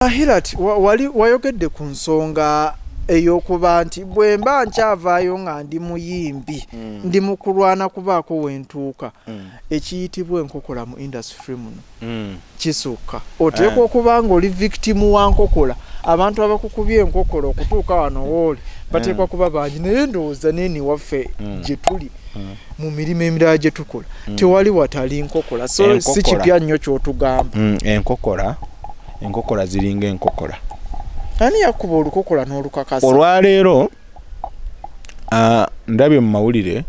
Ahilat wali wayogedde ku nsonga ey'okuba nti bwe mba nkyavaayo nga ndi muyimbi mm. ndi mu kulwana kubaako we ntuuka mm. ekiyitibwa enkokola mu indasitule muno mm. kisukka oteekwa eh. okuba nga oli vikitimu wa nkokola abantu abakukubye enkokola okutuuka wano wooli bateekwa eh. kuba bangi naye ndowooza neeni waffe gye tuli mu mirimu emirala gye tukola mm. tewali watali nkokola so si kipya nnyo kyotugamba mm, enkokola enkokola ziringa enkokola ani yakuba olukokola n'olukakasa olwaleero ndabye mu mawulire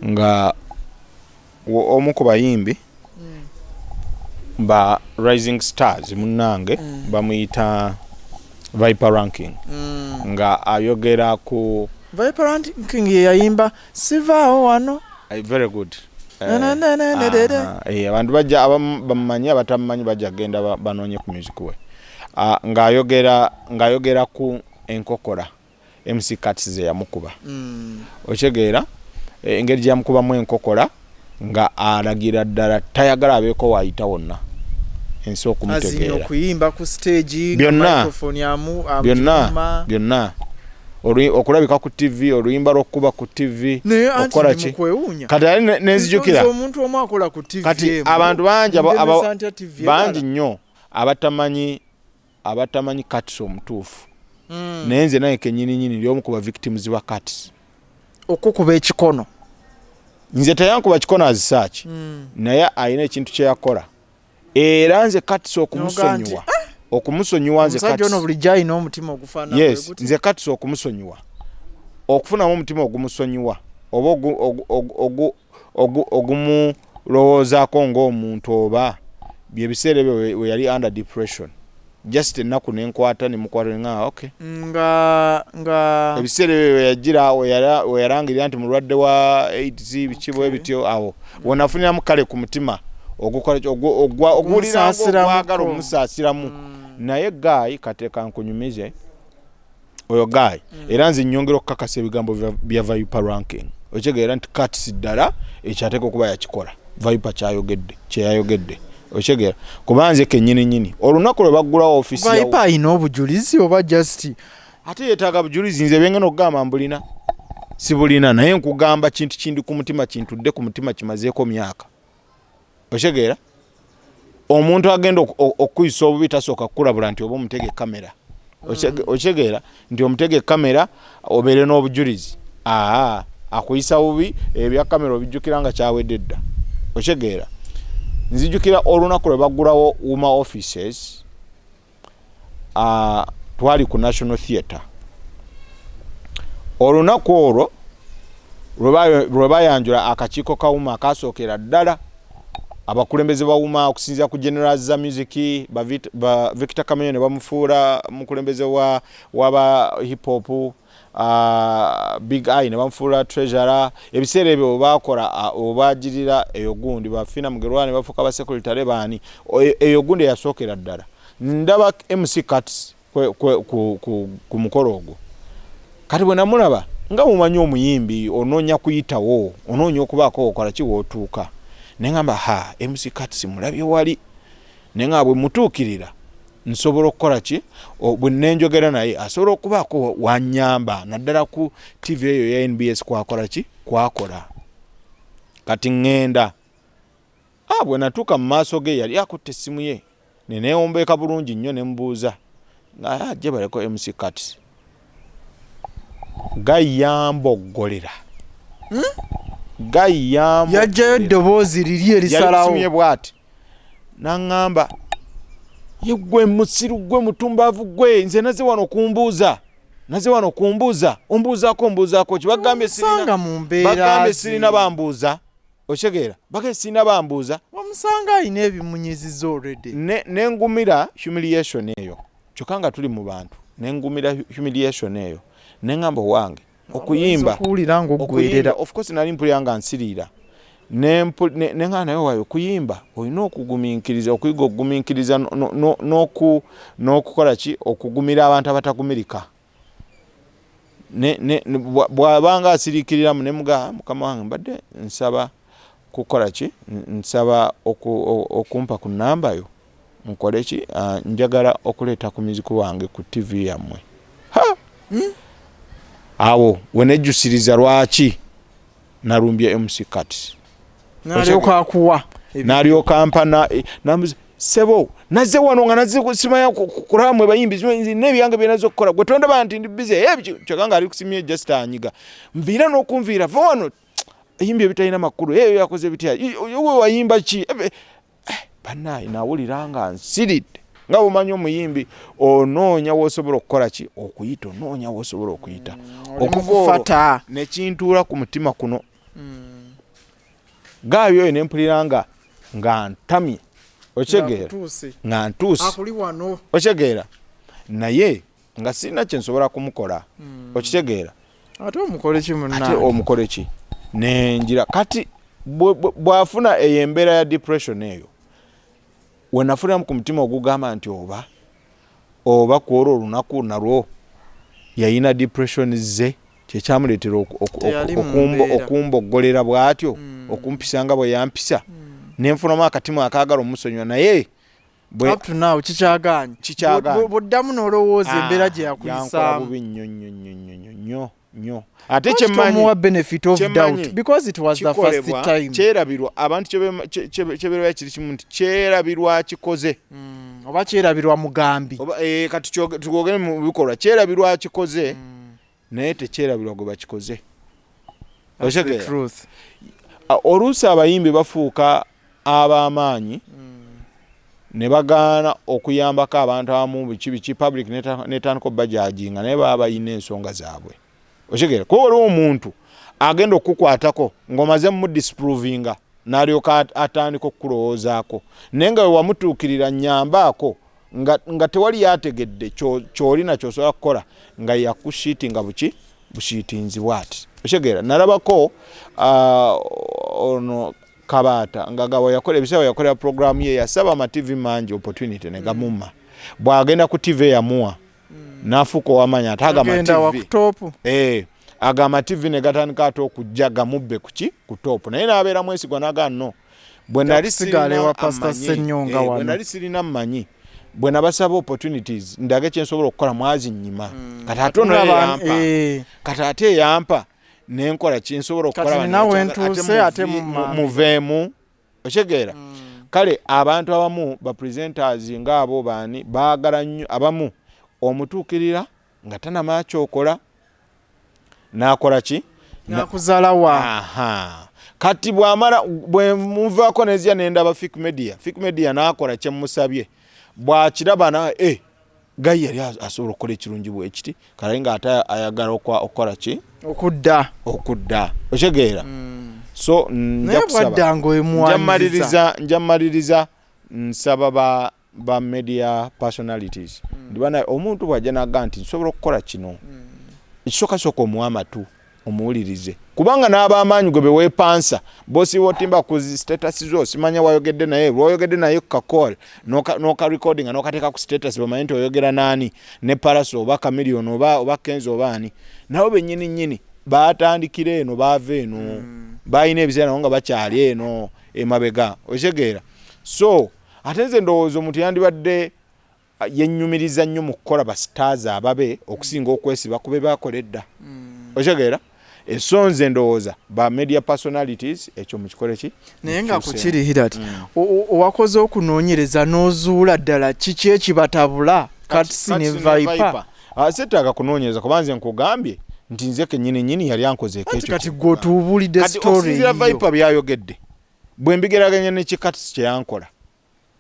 nga omu ku bayimbi mm. ba rising stars munnange mm. bamuyita viper ranking mm. nga ayogera ku viper ranking yeyayimba sivaawo wano eh, very good eh, ah, eh, abantu bajja abamu bamumanyi abatamumanyi bajja kugenda banoonye ku music we ah, ng'ayogera ng'ayogera ku enkokora mc cats ze yamukuba mm. okitegeera engeri gyeyamukubamu enkokora nga alagira ddala tayagala abeeko waayita wonna ensi okumutegeeraokuyimba ku stage byonna byonna okulabika ku ttivi oluyimba lw'okukuba ku ttivi okukola ki kati ali nenzijukira kati abantu bangi bangi nnyo abatamanyi abatamanyi kats omutuufu mm. naye nze naye kenyininyini lyomu kuba victims ba kats okukuba ekikono nze teyankuba kikono azisaaki mm. naye alina ekintu kyeyakola era nze kats okumusonyiwa ah! okumusonyiwa nze nze kats okumusonyiwa okufunamu omutima ogumusonyiwa oba ogumulowoozaako ogu ng'omuntu oba byebiseera ebyo we yali under depression just ennaku nenkwata nemukwata nga ok nga nga ebiseera ebyo weyajira weyalangirira nti mulwadde wa aids biki bwe bityo awo wenafuniramu kale ku mutima oguwuliraogwagala omusaasiramu mm. naye gaayi kateeka nkunyumize oyo guy mm. era nze nyongera okukakasa ebigambo bya viper ranking okitegeera nti kats ddala ekyateeka okuba yakikola viper kyayogedde kyeyayogedde okitegeera kuba nze kenyini nyini olunaku lwe baggulawo ofisi viper alina obujulizi oba just ate yetaaga bujulizi nze byengena okugamba mbulina sibulina naye nkugamba kintu kindi ku mutima kintudde ku mutima kimazeeko myaka okitegeera omuntu agenda okukuyisa obubi tasooka kukulabula nti oba omutega ekamera mm. okitegeera nti omutega ekamera obeere n'obujulizi aa akuyisa bubi ebya kamera obijjukira nga kyawedde dda okitegeera nzijukira olunaku lwe baggulawo wuma offices uh, twali ku national theatre olunaku olwo lwe bayanjula akakiiko kawuma akasookera ddala abakulembeze bawuma okusinzira ku general za music ba victor kamenya ne bamufuula mukulembeze wa, wa ba hip hop uh, big eye ne bamufuula treasurer ebiseera ebyo bakola obagirira eyo gundi bafina mugerwa ne bafuuka ba secretary baani e, eyo gundi eyasookera ddala ndaba mc cats ku mukolo ogwo kati bwe namulaba nga mumanyi omuyimbi onoonya kuyitawo onoonya okubaako okola kiwootuuka naye ngamba ha mc cats mulabye wali naye nga bwe mutuukirira nsobola okukola ki bwe nenjogera naye asobola okubaako wanyamba naddala ku tv eyo ya nbs kwakola ki kwakola kati ŋŋenda ah, bwe natuuka mu maaso ge yali akutte essimu ye neneewombeeka bulungi nnyo ne mubuuza nga ah, gye baleko mc cats Guy yamboggolera. Hmm? Guy yamboggolera. Yajjayo eddoboozi liri erisalawo. Yali kusumye bwati. Nangamba yegwe musiru gwe mutumbavu gwe nze naze wano kumbuuza naze wano kumbuuza ombuuzaako mbuuzaako ki bagambye sirina mu mbeera bagambye sirina bambuuza okitegeera bagambye sirina bambuuza wamusanga alina ebimunyiziza already ne ne ngumira humiliation eyo kyokka nga tuli mu bantu ne ngumira humiliation eyo ne ngamba owange okuyimba okuwulira ng'oggwerera of course nali mpulira nga nsiriira ne nga naye wayo okuyimba olina okugumiikiriza okuyiga okugumiikiriza n'okukola ki okugumira abantu abatagumirika bwabanga asiriikiriramu ne mugaa mukama wange mbadde nsaba kukola ki nsaba okumpa ku nnamba yo nkole ki ah, njagala okuleeta ku muziku wange ku ttivi yammwe hmm? awo wenejjusiriza lwaki nalumbye MC Kat nalyoka akuwa nalyoka ampana eh, nambuza sebo naze wano nga naze simanya kuramwe bayimbi nebyange byenaze okukola gwe tondaba nti ndi busy eh, kyokanga ali kusimye just anyiga nviira n'okunviira va wano yimbi ebitalina makulu eyo eh, yakoze bitya wayimba ki eh, banaye nawulira nga nsiridde nga bumanyi omuyimbi onoonya wosobola okukola ki okuyita onoonya wosobola okuyita mm, okuvafata nekintuula ku mutima kuno mm. gaayo oyo nempulira nga nga ntamye okyegeera nga ntuuse okyegeera naye nga sirina kyensobola kumukola hmm. okitegeera ate omukoleki munate omukoleki nenjira kati bwafuna eyo embeera ya depression eyo wenafuniramu ku mutima ogugamba nti oba oba kwolwo olunaku nalwo yayina depression ze kyekyamuleetera okumboggolera bwatyo hmm. okumpisa nga bweyampisa hmm. nenfunamu akatimu akagala omusonyiwa naye bwoddamu nolowooza ah, embeera gye yakuyisaamunyonyo ate kyerabirwa abantu kyeberwa kiri kimu nti kyerabirwa kikoze hmm, oba kyerabirwa mugambi eh, kati twogere mu bikolwa kyerabirwa kikoze hmm. naye tekyerabirwa gwe bakikoze oluusi abayimbi bafuuka ab'amaanyi hmm. ne bagaana okuyambako abantu abamu biki biki public netandika obajajinga naye baba balina ensonga zaabwe okitegeera kuba waliwo omuntu agenda okukukwatako ng'omaze mumudisprovinga n'alyoka atandika okukulowoozaako naye nga wewamutuukirira nyambaako nga, nga tewali yategedde kyoli nakyo osobola kukola nga yakusiiti nga buki busiitinzi bwati okitegeera nalabako uh, ono kabaata nga gawa yakola ebisawa yakolera programu ye yasaba amativi mangi opportunity negamumma mm. bwagenda ku tivi eyamuwa mm. nafuuka owamanya ate agamativi eh, agamativi negatandika ate okujja gamubbe kuki ku topu naye nabeera mwesigwa nagaa no bwe nali sigala ewa pastor senyonga eh, wano bwe nali sirina manyi bwe nabasaba opportunities ndage kye nsobola okukola mwazi nyima mm. kata ate ono yampa eh. kata ate yampa ne nkola kye nsobola okukola nawe ntuse ate muvemu ochegeera mm. kale abantu abamu ba presenters nga abo bani bagala nyo abamu omutukirira nga tanama kyokola nakola ki nakuzala wa aha kati bwamala bwemuvako nezya nendaba fik media fik media nakola kyemusabye bwakiraba na e gayi yali asobola okukola ekirungi bwekiti kale nga ate ayagala okukola ki okudda okudda okitegeera mm. so njamaliriza njamaliriza nsaba ba ba media personalities mm. ndibana omuntu bwaja naga nti nsobola okukola kino mm. ekisooka sooka omuwa amatu omuwulirize kubanga n'abamaanyi gwe beweepansa bosi wotimba ku status zo simanya wayogedde naye lwoyogedde naye kukakol nokarecordinga noka nokateeka ku status bamanye nti oyogera naani ne paraso oba kamilion oba, oba kenzi oba ani nabo benyini nyini batandikira eno baava eno mm. balina ebiseera nabo nga bakyali eno emabega okitegeera so ate nze ndowooza omuntu yandibadde ah, yenyumiriza nnyo mu kukola basitaazi ababe okusinga okwesiba kube bakola edda mm. okitegeera esonze ndowooza ba media personalities ekyo mukikole ki naye nga kukiri hirat mm. owakoze okunoonyereza n'ozuula ddala kiki ekibatabula katsi ne viper ah, setaaga kunoonyereza kuba nze nkugambye nti nze kenyini nyini yali ankozeeko ekyo kati gwotuubulidde story viper byayogedde bwe mbigeraganya ne kikatisi kye yankola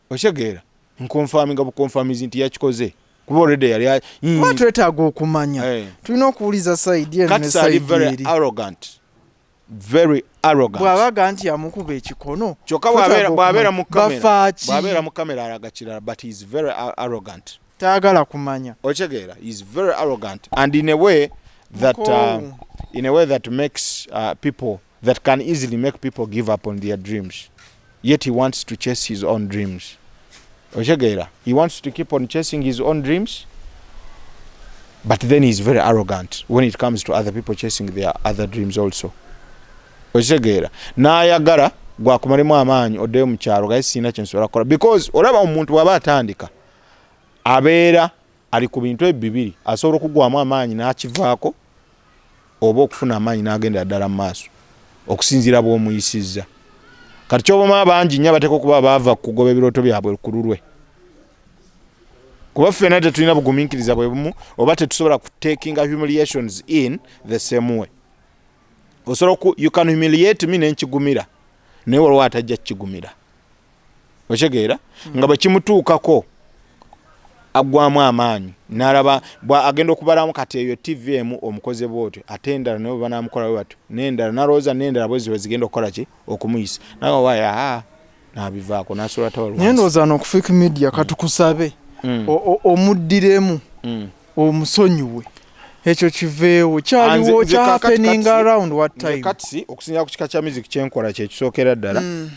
okitegeera nkonfaminga bukonfamizi nti yakikoze kuba olwedde yali mm. kuba twetaaga okumanya eh. tulina okuwuliza saidi enosaidieri very arrogant bwabaga nti amukuba ekikono kyoka bwabeera mu kamera bwabeera mu kamera alaga kirala but he is very arrogant tayagala kumanya okitegeera he is very arrogant and in a way that uh, in a way that makes uh, people that can easily make people give up on their dreams yet he wants to chase his own dreams otegeera he wants to keep on chasing his own dreams but then he's very arrogant when it comes to other people chasing their other dreams also okitegeera n'ayagala gwakumalemu amaanyi oddeyo mu kyalo gaye sirina kyensobola kukola because olaba omuntu bw'aba atandika abeera ali ku bintu ebyo bibiri asobola okugwamu amaanyi n'akivaako oba okufuna amaanyi n'agendera ddala mu maaso okusinziira bw'omuyisizza kati kyobama bangi nnyo abateeka okuba baava kugoba ebirooto byabwe ku lulwe kuba ffena tetulina bugumiikiriza bwe bumu oba tetusobola kutakinga humiliations in the same way osobola you can humiliate me nenkigumira naye waliwo atajja kukigumira okitegeera hmm. nga bwekimutuukako aggwamu amaanyi nalaba agenda okubalamu kati eyo tv emu omukoze bwotyo ate endala naye banamukola batyo nendala nalowooza nendala bweziba zigenda okukola ki okumuyisa nawe waya ah, nabivaako nasobola tawal naye ndowooza nokufiik media katukusabe hmm. omuddiremu hmm. omusonyiwe ekyo kiveewo kyaliwo kya happening around what time katsi okusinzira ku kika kya music kyenkola kye kisookera ddala mm.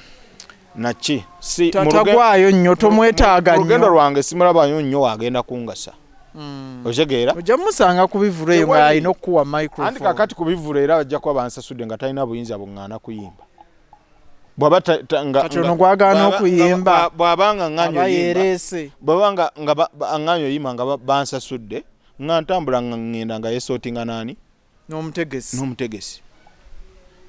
naki si tatagwayo nnyo tomwetaaga nnyo olugendo lwange simulabayo nnyo wagenda kungasa mm. otegeera ojja musanga ku bivulu eyo nga alina okukuwa microphone andi kakati ku bivulu era ajja kuba bansasudde nga talina buyinza bung'ana kuyimba bwaba kati ono gwagaana okuyimba bwaba nga nganyerese bwaba nga nga anganyo yima nga bansasudde nga ntambula nga ngenda nga yesotinga nani n'omutegesi n'omutegesi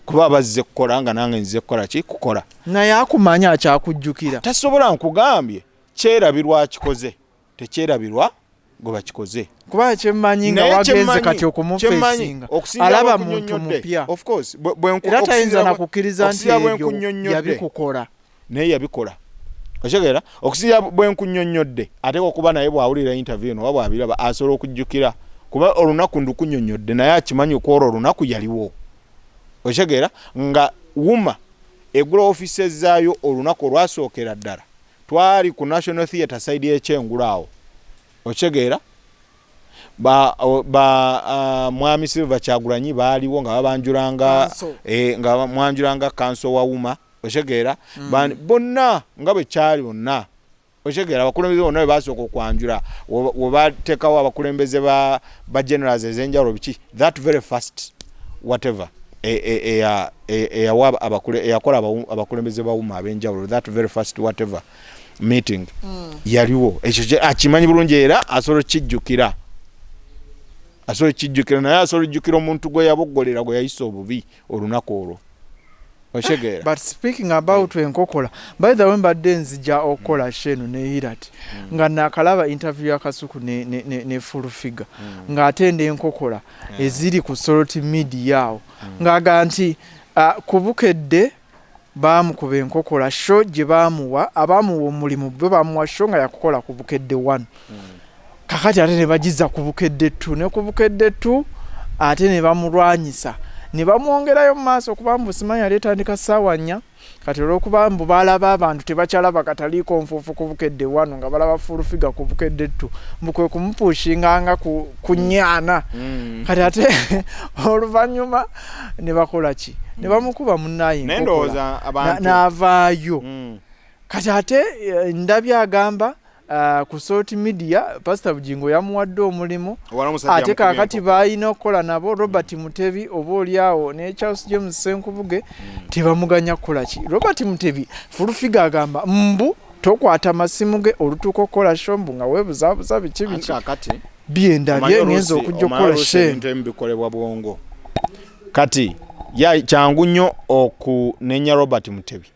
kuba bazze kukola nga nange nze kukola ki kukola naye akumanya akyakujjukira tasobola nkugambye kyerabirwa akikoze tekyerabirwa gwe bakikoze kuba kyemmanyi nga wagenze kati okumufesinga alaba muntu mupya era tayinza na kukkiriza nti ebyo yabikukola naye yabikola okitegeera okusinzira bwe nkunyonnyodde ateeka okuba naye bw'awulira interview no oba bw'abiraba asobola okujjukira kuba olunaku ndukunyonnyodde naye akimanyi okwolwo olunaku yaliwo okitegeera nga wuma egula offices zaayo olunaku olwasookera ddala twali ku national theatre side yekyengulu awo okitegeera ba, ba uh, mwami silver kyagulanyi baaliwo nga babanjulanga e, nga mwanjulanga kanso wawuma okitegeera mm. bonna nga bwe kyali bonna okitegeera abakulembeze bonna bebasooka okwanjula webatekawo abakulembeze ba, ba generals ezenjawulo biki that very first whatever eyakola e, e, e, abakulembeze bawuma abenjawulo that very first whatever meeting mm. yaliwo ekyo akimanyi bulungi era asobola okukijjukira asobola okukijjukira naye asobola okujjukira omuntu gwe yaboggolera gwe yayisa obubi olunaku olwo okitegeera but speaking about mm. enkokola by the way mbadde nzija okukola mm. sheno ne hirat mm. nga nakalaba interview ya kasuku ne, ne, ne, ne full figure mm. nga atenda enkokola yeah. eziri ku solot media awo mm. ngaga nti uh, kubukedde Baamukuba enkokola sho gye baamuwa abaamuwa omulimu bo baamuwa sho nga yakukola ku Bukedde one kakati ate ne bagizza ku Bukedde two ne ku Bukedde two ate ne bamulwanyisa ne bamwongerayo mu maaso kuba mbu simanyi yali etandika ssaawa nnya kati olw'okuba mbu baalaba abantu tebakyalaba kataliikonfuufu ku Bukedde one nga balaba fuulufiga ku Bukedde two mbu kwe kumupuushinga nga ku, ku nnya ana mm. kati ate oluvannyuma ne bakola ki ne mm. bamukuba munnaye n'avaayo mm. kati ate eh, ndabi agamba Uh, ku salt media pastor bujingo yamuwadde omulimu ate kakati baalina okukola nabo robert mm. mutebi oba olyawo ne charles james senkubuge mm. tebamuganya kukola ki robert mutebi fulufiga agamba mbu tokwata masimu ge olutuuka okukola shombu nga webuzabuza biki biki byendabye ngenza okujja okukola shebikolebwa bwongo kati kyangu nnyo okunenya robert mutebi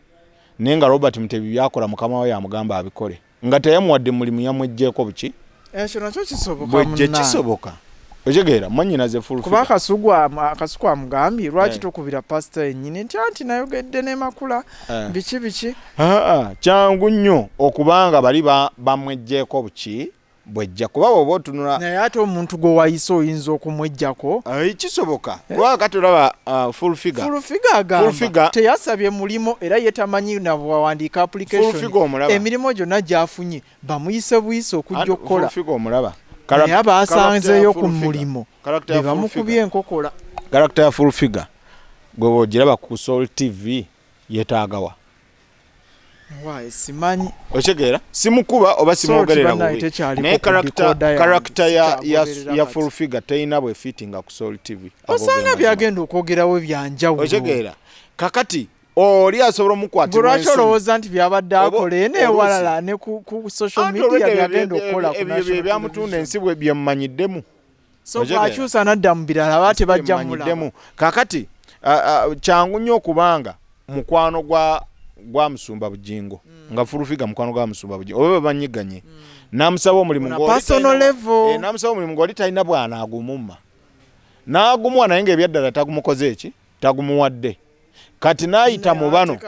naye nga robert mutebi byakola mukama we yamugamba abikole nga teyamuwadde mulimu yamwejjeeko buki ekyo nakyo kisobokabwejje kisoboka okigeera mwanyinaze fulkuba akasuku amugambye lwaki eh. tokubira pasita yennyini nti anti nayogedde nemakula eh. biki biki kyangu nnyo okubanga bali bamwejjeeko buki bwejja kuba woba otunula naye ate omuntu gwe wayise oyinza okumwejjako eh, kisoboka eh. kuba kati olaba uh, full figure full figure agamba teyasabye mulimu era ye tamanyi nawawandiika application emirimu gyonna gyafunye bamuyise buyise okujja okukola omulaba naye abaasanzeeyo ku mulimu bebamukubye enkokola karakita ya full figure gwe bwogiraba ku sol tv yetaagawa Why simanyi. Ochegeera simukuba oba simwogerera bubi. Naye character character ya ya, ya full figure teyina bwe fitting ku Soul TV. Osanga byagenda okwogerawo byanjawulo. Ochegeera kakati oli asobola omukwatira lwaki olowooza nti byabadde akola eno ewalala ne ku social media byagenda okukola ku national ebyo byamutunda ensi bwe byemumanyiddemu so bwakyusa nadda mu birala aba tebajja mulamu kakati kyangu nnyo okubanga mukwano gwa gwa musumba bujingo mm. nga furufiga mukwano gwa musumba bujingo oba banyiganye mm. namusaba omulimu eh, namusaba omulimu ngoli talina bwana agumuma nagumuwa naye nga ebyaddala tagumukoze eki tagumuwadde kati nayita mu bano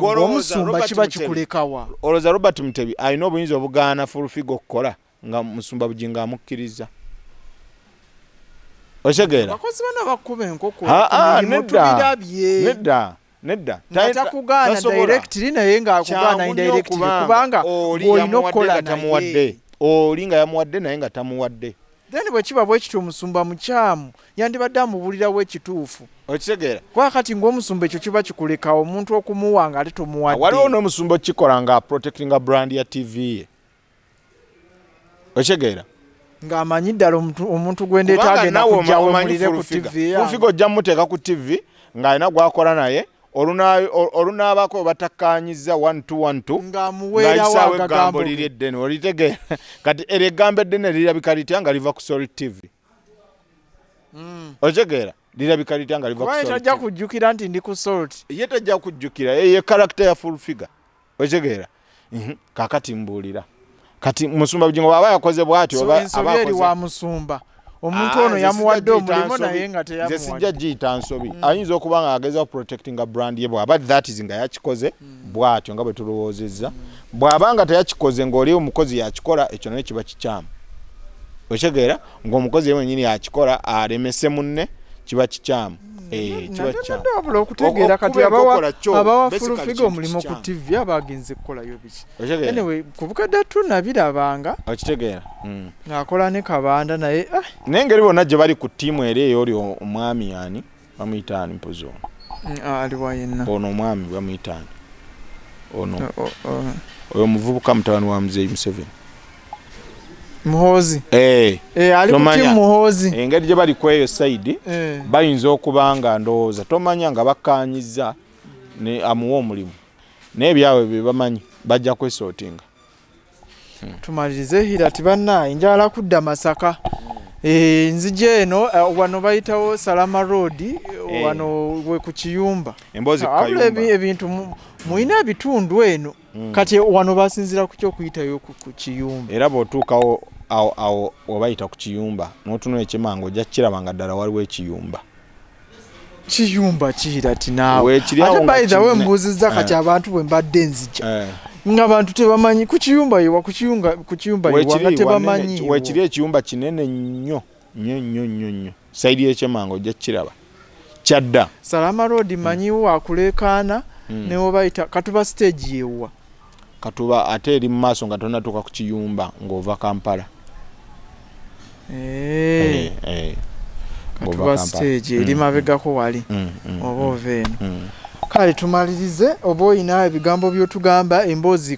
omusumba kiba kikulekawa oloza robert mutebi alina obuyinza obugaana furufiga okukola nga musumba bugingo amukkiriza otegeera nedda nedda kubanga olina okukola tamuwadde oli nga yamuwadde naye nga tamuwadde then bwekiba bwekityo omusumba mukyamu yandibadde amubulirawo ekituufu okitegeera kuba kati ngaomusumba ekyo kiba kikulekawo omuntu okumuwa nga ate tomuwadde waliwo n'omusumba okikola nga protectinga brand ya tv ye okitegeera nga amanyi ddala omuntu gwendeeta agenda kujjawo mulire ku tivi fulfiga ojja muteeka ku tivi ng'alina gwakola naye olunaabako webatakkaanyizza ngaisaawo eggambo liri eddene olitegeera kati eryo eggambo eddene lirabika litya nga liva ku soli tv hmm. okitegeera lirabika litya nga livatajja kujjukira nti ndi ku solt ye tajja kujjukira eye karakita ya full figure okitegeera mhm. kakati mbuulira kati musumba bugingo bwaba yakoze bwati eri wa musumba omuntu ah, ono yamuwadde omulimu naye nga teyamuwadde sijja giyita nsobi mm. ayinza okuba nga ageza protectinga brand ye bwaba that is nga yakikoze mm. bwatyo nga bwe tulowoozezza bwaba nga teyakikoze ng'oli omukozi yakikola ekyo naye kiba kikyamu okitegeera ng'omukozi ye wenyini yakikola alemese munne kiba kikyamu Eh, wabula okutegeera kati abawa fulufiga omulimu ku tv abagenze kukolayo biki anyway kubukadde tunabirabanga okitegeera hmm. ngaakola ne kabanda naye ah. naye ngeri bonna gye bali ku tiimu era eyo oli omwami yani bamuyitaani mpozi ono hmm, ah, aliwa yenna ono omwami bamuyitaani ono oh, oh, oh. oyo omuvubuka mutabani wa muzeeyi museveni muhoozi eh. Eh, ali kuti muhoozi engeri gye bali kweyo saidi eh. bayinza okuba nga ndowooza tomanya nga bakkanyiza amuwa omulimu naye byabwe bye bamanyi bajja kwesootinga hmm. tumalirize hira ti bannaayi njagala kudda masaka enzija eno wano bayitawo salama road wano we ku kiyumba ebintu mulina ebitundu eno mm. kati wano basinzira kuki okuyitayo ku kiyumba era bwotuukawo awo awo obayita ku kiyumba notunula ekyemanga ojja kukiraba nga ddala waliwo ekiyumba kiyumba kiira tinaweatebaidawe mbuuzizza kati eh. abantu bwe mbadde nzija eh. nga bantu tebamanyi ku kiyumba yewa ku kiyumba yewa nga tebamanyi wekiri ekiyumba kinene nnyo nyo nyo nyo nyo saidi yekyemanga ojja kukiraba kyadda salama road hmm. manyiwo wakuleekaana hmm. newobayita katuba stage yewuwa katuba ate eri mu maaso nga tonatuuka ku kiyumba ng'ova kampala eh. Eh, eh. katuba stage eri hmm, mabegako wali oba ova eno kale tumalirize oba olina ebigambo byotugamba emboozi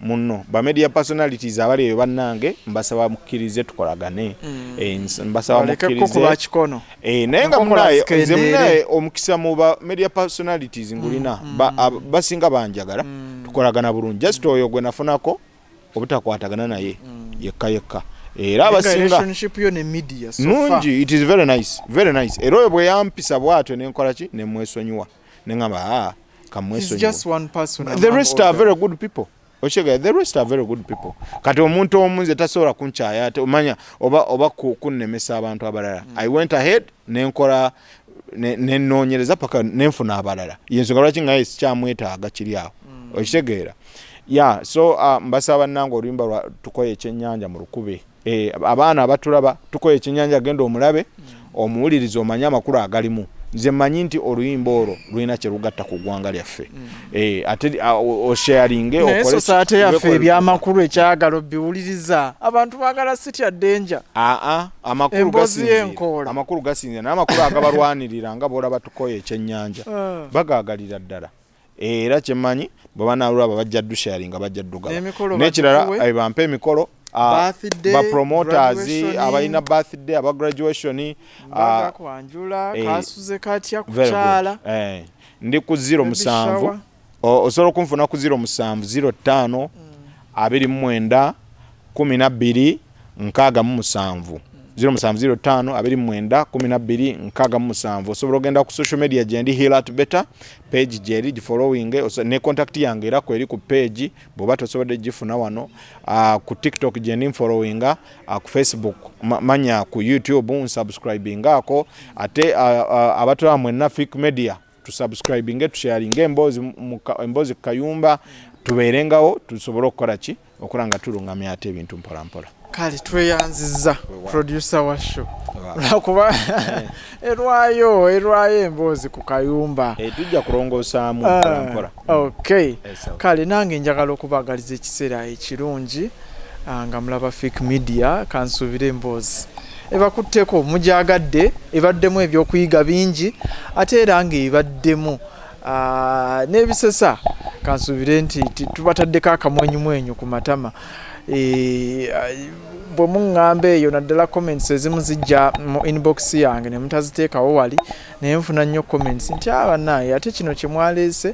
muno ba media personalities abali eyo bannange mbasaba mukkirize tukolagane mm. eh, mbasaba eh, naye nga munaye nze munaye omukisa mu ba media personalities ngulina mm, mm. basinga banjagala tukolagana bulungi just oyo gwe nafunako obutakwatagana naye yekka yekka era abasinga nungi it is very nice very nice era oyo bwe yampisa bwatyo nenkolaki nemwesonyiwa ne ŋŋamba aa ah, kamwesonyiwe okitegeera the rest are very good people kati omuntu omu nze tasobola kunkyaya ate omanya oba oba kunnemesa abantu abalala mm. i went ahead nenkola nenoonyereza paka nenfuna abalala yensonga lwaki ngaye sikyamwetaaga kiri awo mm. okitegeera ya so uh, mbasaba bannanga oluyimba lwa tukoye ekyennyanja mu lukube Eh, abaana abatulaba tukola ekyenyanja genda omulabe omuwuliriza omanye amakulu agalimu nze manyi nti oluyimba olwo lulina kyelugatta ku ggwanga lyaffe mm. eh, ate osharinge okolesosaate yaffe ebyamakulu ekyagalo biwuliriza abantu bagala sitya denja aa amakulu gasinzira amakulu gasinzira naye amakulu agabalwanirira nga boolaba tukoye ekyenyanja ah. bagaagalira ddala era kyemanyi bwebanalwaba bajja dusharinga bajja dugaba nekirala eh, bampe emikolo ah, bapromoters abalina birthday aba graduation eh, eh, ndi ku zero musanvu osobola okunfuna ku zero musanvu zero ttaano mm. abiri mumwenda kumi nabbiri nkaaga mu musanvu 0705 osobola ogenda ku social media gyendi hilat beta page gyeri gifollowing ne contact yange era kweri ku page bwoba tosobodde gifuna wano uh, ku tiktok gyendi nfollowing uh, ku facebook ma, manya ku youtube nsubscribing ako ate uh, uh, abatula mwenna fik media tusubscribinge tusharinge emboozi emboozi ku kayumba tubeerengawo tusobole okukola ki okola nga tulungamya ate ebintu mpolampola kale tweyanziza producer wa show lwakuba eh. erwayo erwayo emboozi ku kayumba eh, tujja kulongosaamu ah. mpolampola Okay. Kale nange njagala okubagaliza ekiseera ekirungi ah, nga mulaba Fik Media kansuubira emboozi ebakutteko mugyagadde ebaddemu ebyokuyiga bingi ate era ng'ebaddemu ah, n'ebisesa kansuubire nti tubataddeko akamwenyumwenyu ku matama eh, bwe muŋŋamba eyo naddala comments ezimu zijja mu inbox yange ne mutaziteekawo wali naye nfuna nnyo comments nti a ah, banaye ate kino kyemwaleese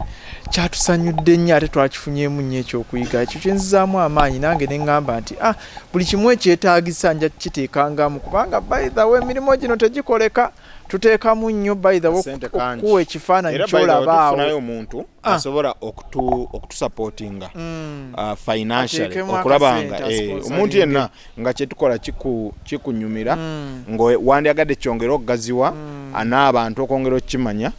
kyatusanyudde nnyo ate twakifunyemu nnyo ekyokuyiga ekyo kyenzizaamu amaanyi nange neŋŋamba nti a ah, buli kimu ekyetaagisa nja kukiteekangamu kubanga baithawe emirimu gino tegikoleka tuteekamu nnyo baithawe okuwa ekifaananyi kyolabaawo omuntu ah. asobola okutusapootinga mm. financially okulaba nga eh, omuntu yenna nga kyetukola kikunyumira mm. nga wandyagadde kyongere okugaziwa mm. anaabantu okwongera okukimanya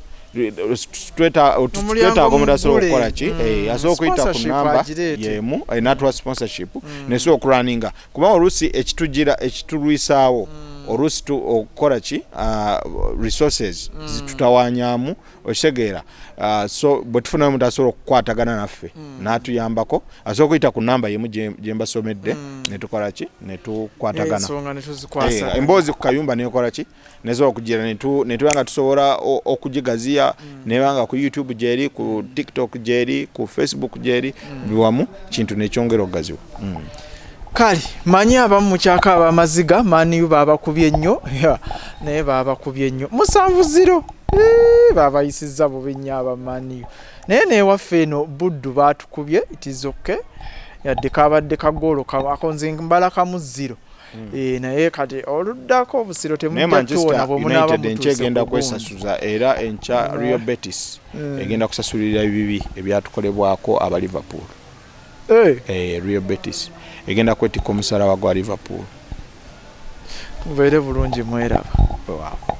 twetaaga omuntu asobola okukola ki mm. eh, asobola okuyita ku namba yemu eh, natuwa sponsorship mm. nesobola okulaninga kubanga oluusi ekitugira ekitulwisaawo mm. oluusi okukola ki ah, resources zitutawanyamu okitegeera uh, so bwe tufunayo omuntu asobola okukwatagana naffe mm. n'atuyambako asobola okuyita ku namba yemu gye mbasomedde mm. ne tukola ki ne tukwatagana eh, emboozi ku kayumba nekola ki nesobola okugira netuba nga tusobola okugigaziya mm. neba nga ku youtube gyeri ku tiktok gyeri ku facebook gyeri biwamu kintu nekyongera okugaziwa kale manyi abamu mukyaka abamaziga maniyu babakubye nnyo naye babakubye nnyo musanvu ziro babayisiza bubi nnyo abamaniyu naye newaffe eno buddu batukubye itizoke yadde kabadde kagoolo akonze mbala kamu ziro hmm. eh, naye kati oluddako obusiro temujaekyegenda kwesasuza era enkya rio betis hmm. egenda kusasulira ebibi ebyatukolebwako aba liverpool hey. hey, eh, real betis egenda kwetikka omusala wa gwa liverpool mubeere bulungi mweraba wow.